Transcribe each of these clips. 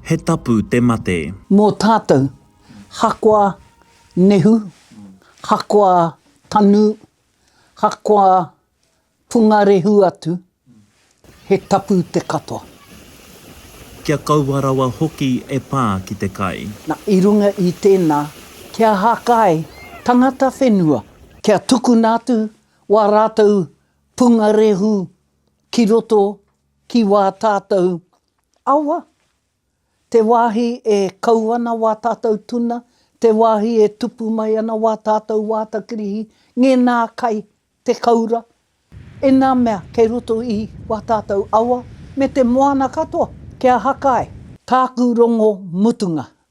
He tapu te mate. Mō tātou, hakoa nehu, hakoa tanu, hakoa pungarehu atu, he tapu te katoa. Kia kaua rawa hoki e pā ki te kai. Na, i runga i tēnā, kia hakai tangata whenua, kia tukuna atu wā rātou pungarehu ki roto ki wā tātou awa, te wāhi e kau ana wā tātou tuna, te wāhi e tupu mai ana wā tātou wāta kirihi, ngēnā kai, te kaura, ēnā mea kei roto i wā tātou awa me te moana katoa, kia haka ai. Tāku rongo mutunga,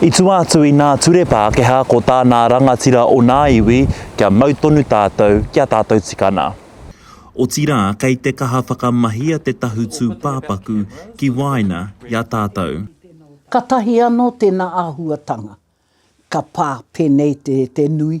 I tua atu i nā ture Pākehā ko tā nā rangatira o nā iwi kia mau tonu tātou ki a tātou tikana. Otirā kei te kaha whakamahia te tahu tūpāpaku ki waena i a tātou. Katahi anō tēnā āhuatanga ka pā pēnei te nui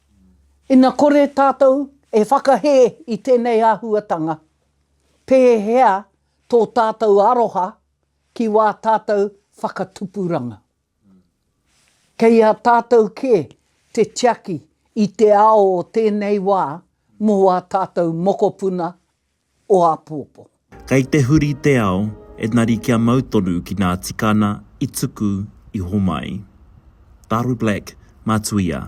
Ina kore tātou e whakahē i tēnei āhuatanga, pēhea tō tātou aroha ki wā tātou whakatupuranga? Kei a tātou kē te tiaki i te ao o tēnei wā mō ā tātou mokopuna o apōpō. Kei te huri te ao, enari kia mau tonu ki nā tikana i tuku i homai. Daru Black, Matuia.